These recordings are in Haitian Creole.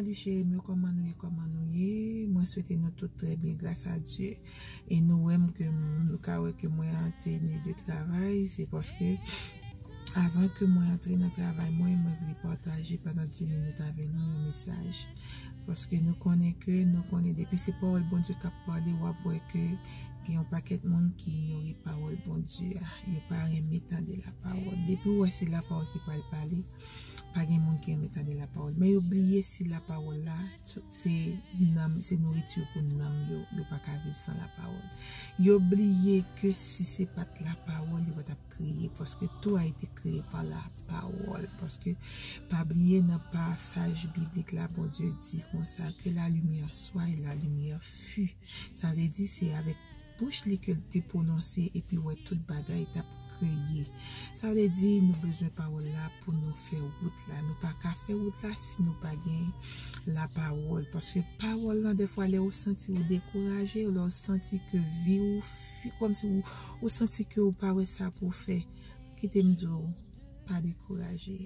Salut chéri m yo koman nou ye koman nou ye mwen swete nou tout trè byen gras a Dye e nou wèm ke m nou ka wè ke mwen an teni de travay se paske avan ke mwen antre nan travay mwen mwen vle pataje pandan 10 minit avè nou yon mesaj. Paske nou konnen ke, nou konnen depi se pawòl Bondye kap pale wap wè ke gen yon pakèt moun ki inyore pawòl Bondye a, yo pa renmen tande la pawòl. Depiw wè se la pawòl ki pral pale, pa gen moun ki renmen tande la pawòl. Men yo bliye si la pawòl la se nanm, se nouriti pou nanm yo, yo paka viv san la pawòl. Yo bliye ke si se pat la pawòl yo pa tap. kreye paske tou a ete kreye pa la pawòl paske pa bliye nan pasaj biblik la Bondye di konsa ke la limyè swa e la limyè fu sa vle di se avèk bouch li ke li te pwononse epi wè tout bagay tap kreye sa vle di nou bezwen pawòl la pou nou fè wout la nou pa ka fè wout la si nou pa gen la pawòl paske pawòl la defwa lè ou santi ou dekouraje lè ou santi ke vi ou Se kòmsi ou santi ke ou pa wè sa pou w fè, kite m di w, pa dekouraje,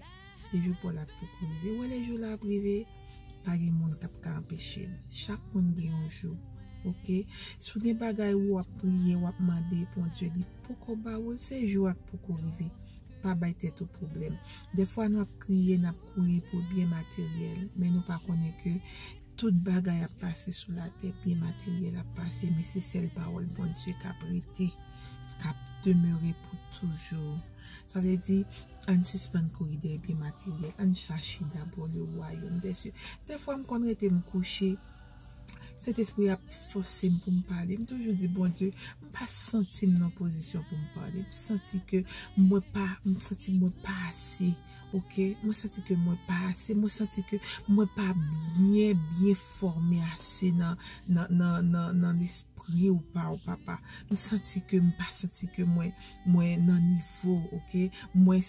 se jou pa w la k poko rive. Ou wè lè jou la ap rive, pa gen moun k ap ka anpeche l. Chak moun gen yon jou, ok. Si w gen bagay ou ap priye, w ap mande Bondye, li poko ba ou l, se jou a k poko rive. Pa bay tèt ou pwoblèm. Dèfwa nou ap kriye, n ap kouri pou byen materyèl, men nou pa konnen ke Tout bagay ap pase sou latè, byen materyèl ap pase, men se sèl pawòl Bondye k ap rete, k ap demere pou toujou. Sa vle di, ann sispann kouri dèyè byen materyèl, ann chache dabò le wayòm dè sye. Dèfwa m konn rete m kouche, Sentespri a ap fòse m pou m pale, m toujou di Bondye, m pa santi m nan pozisyon pou m pale, m santi ke mwen pa, m santi mwen pa ase. Ok mwen santi ke mwen pa ase mwen santi ke mwen pa byen byen fòme ase nan nan nan nan nan lespri ou pa ou papa mwen santi ke mwen pa santi ke mwen mwen nan nivo ok mwen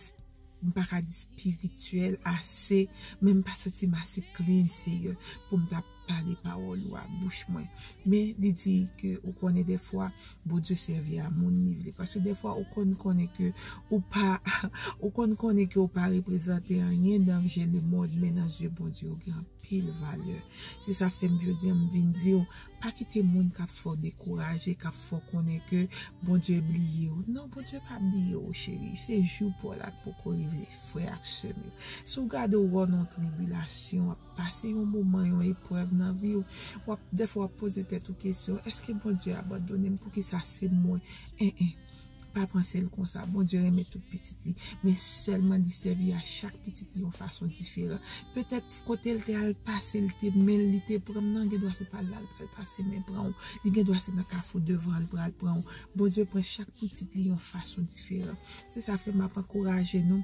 mwen pa ka di spirityèl ase men mwen pa santi mwen ase klin seyè pou mwen ta pale pawòl ou a bouch mwen men li di ke ou konnen dèfwa Bondye sèvi a moun li vle paske dèfwa ou konn konnen ke ou pa ou konn konnen ke ou pa reprezante anyen nan je lemond men nan zye Bondye ou gen anpil valè se sa fèm jodi an m vin di ou pa kite moun kap fè w dekouraje kap fè w konnen ke Bondye bliye ou non Bondye pa bliye ou cheri se jou pa w la k poko rive frè ak sè m yo si w gade w wè w nan yon tribilasyon pase yon moman, yon eprèv nan vi w, wap dèfwa wap poze tèt ou kesyon, eske Bondye abandone m, poukisa se mwen, en en, pa panse l konsa, Bondye renmen tout pitit li, men sèlman li sèvi a chak pitit li yon fason diferan, petèt kote l te al pase l te men l li te pran m nan, gendwa se pa la l pral pase men pran w, li gendwa se nan kafou devan an l pral pran w, Bondye pran chak pitit li yon fason diferan, se sa fè map ankouraje nou.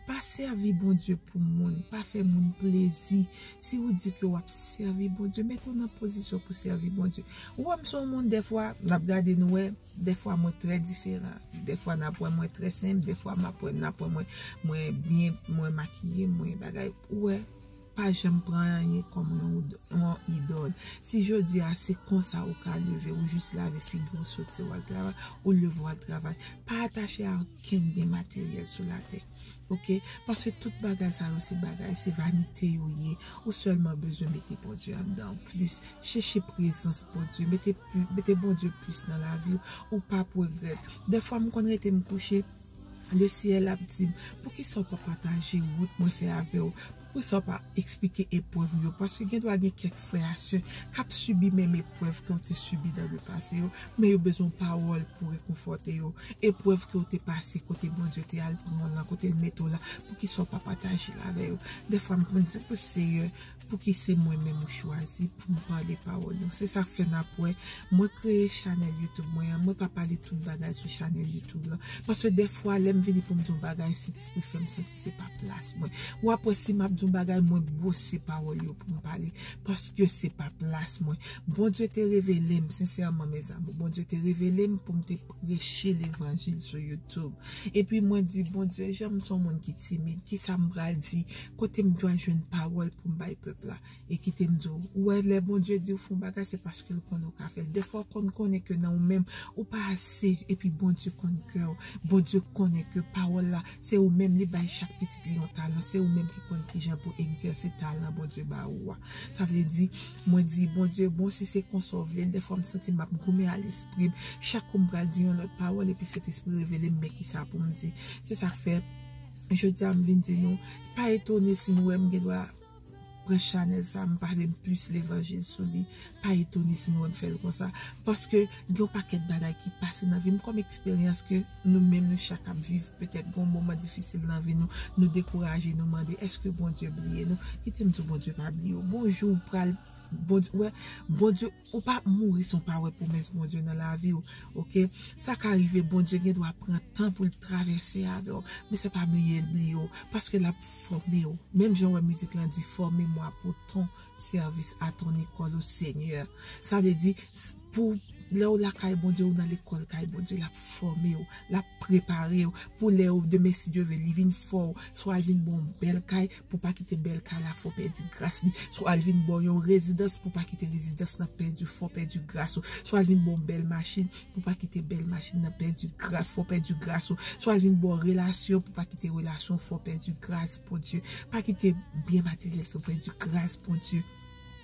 Pa sèvi Bondye pou moun, pa fè moun plezi. Si ou di ke wap sèvi Bondye, mete ou nan pozisyon pou sèvi Bondye. Ou wèm son moun defwa, nap gade nou wè, defwa mwen trè diferan. Defwa nap wè mwen trè senp, defwa map wè nap wè mwen mwen byen, mwen makiye, mwen bagay. Ou wè? Pa janm pran anyen kòm yon idòl. Si jodi a se konsa ou ka leve, ou jis lave figi ou soti wal travay, ou leve wal travay. Pa atache a okenn byen materyèl sou latè. Ok, paske tout bagay sa yo se bagay, se vanite yo ye. Ou sèlman bezwen mete Bondye anndan ou plis. Cheche prezans Bondye. Mete Bondye plis nan lavi ou. Ou pap regrèt. Dèfwa m konn rete m kouche. Le ciel ap dim poukisa ou pa pataje rout mwen fè avèw poukisa ou pa esplike eprèv ou yo paske gen dwa gen kèk frè a sè kap sibi menm eprèv ke ou te sibi dan le pase yo men yo bezwen yon pawòl pou rekonfòte yo eprèv ke ou te pase kote Bondye te al pran w lan kotel mete w la poukisa ou pa pataje l avè yo dèfwa m konn di pou seyè Pouki se mwen menm ou chwazi pou m pale pawòl yo? Se sak fè nap wè mwen kreye chanèl youtube mwen an mwen pa pale tout bagay sou chanèl youtube lan paske dèfwa lèm vini poum di yon bagay sentespri fèm santi se pa plas mwen wap wè si map di yon bagay mwen bwose pawòl yo poum pale paske se pa plas mwen Bondye te revelem sensèman mes amour Bondye te revelem poum te preche levanjil sou youtube epi mwen di Bondye janm son moun ki timid kisam pral di Kote m dwa jwenn pawòl pou m bay pèp la? E kite m di w, ou wè lè Bondye di w fè yon bagay se paske l konnen w ka fè l. Dèfwa w konn konnen ke nan ou menm ou pa ase epi Bondye konn kè w. Bondye konnen ke pawòl la se ou menm li bay chak pitit li yon talan, se ou menm ki konn kijan pou egzèse talan Bondye ba ou a. Sa vle di, mwen di, Bondye bon si se konsa w vle l. Dèfwa m santi m ap goumen a lespri m, chak kou m pral di yon lòt pawòl epi Sentespri revele m men kisa pou m di. Se sa k fè. Jodi a m vin di nou, pa etone si nou wè m gendwa pran chanèl sa m pale plis levanjil sou li, pa etone si nou wè m fè l konsa, paske gen yon pakèt bagay ki pase nan vi m kòm eksperyans ke nou menm nou chak ap viv, petèt gen yon moman difisil nan vi nou, nou dekouraje nou mande èske Bondye bliye nou, kite m di w Bondye pa bliye w, gon jou ou pral, Bondye, wè, Bondye. Ou pa mouri san w pa wè pwomès Bondye nan lavi w ok, sa ka rive Bondye gen dwa pran tan pou l travèse avè w men se pa bliye l bliye w paske l ap fòme w menm jan w wè mizik lan di fòme mwa pou ton sèvis a ton ekòl o senyè sa vle di pou lè w lakay Bondye ou nan lekòl kay Bondye l ap fòme w l ap prepare w pou lè w demen si Dye vle li vin fè w swa vin ba w bèl kay Pou pa kite bèl kalafon pèdi gras li. Swa al vin ba w yon rezidans pou pa kite rezidans lan pèdi fò, pèdi gras ou. Swa al vin ba w bèl machin pou pa kite bèl machin nan pèdi gras, fò, pèdi gras ou. Swa al vin ba w relasyon pou pa kite relasyon w fò, pèdi gras, Bondye. Pa kite byen materyèl fè w pèdi gras, Bondye.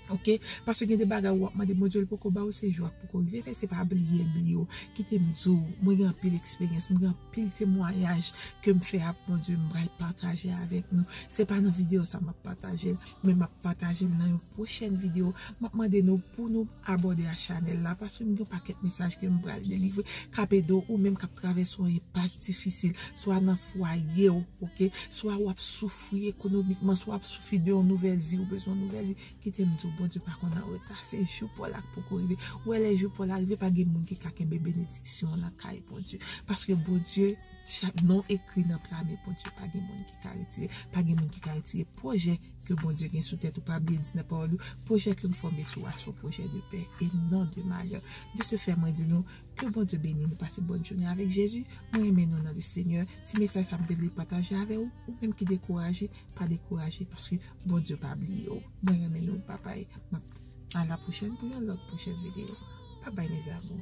Ok paske gen de bagay wap mande Bondye li poko baw se jou a poko rive men se pa bliye li yo kitem diw mwen gen anpil eksperyans mwen gen anpil temwayaj kem fè ak Bondye m pral pataje avèk nou se pa nan video sa map patajel men map patajel nan yon pwochèn video map mande nou pou nou abòne a chanèl la paske m gen yon pakèt mesaj kem pral delivre kap ede ou menm kap travèse yon enpas difisil swa nan fwayew ok swa wap soufri. Free ekonomikman si wap soufri de yon nouvèl vi ou bezwen yon nouvèl vi kitem diw Bondye pa konn anreta se jou paw la k poko rive ou wè lè jou paw la rive pa gen moun ki ka kenbe benediksyon nan kay Bondye paske Bondye chak non ekri nan pla men Bondye pa gen moun ki ka retire pa gen moun ki ka retire pwojè ke Bondye gen sou tèt ou pa bliye di nan pawòl ou pwojè kem fòme sou a son pwojè de pè e non de malè de se fè mwen di nou. Ke Bondye beni nou pase bòn jounen avèk Jezi mwen renmen nou nan le Senyè ti mesaj sa mte vle pataje avèw ou menm ki dekouraje pa dekouraje paske Bondye pa bliye w mwen renmen nou babay map a la pwochèn pou yon lòt pwochèn video babay mes amour.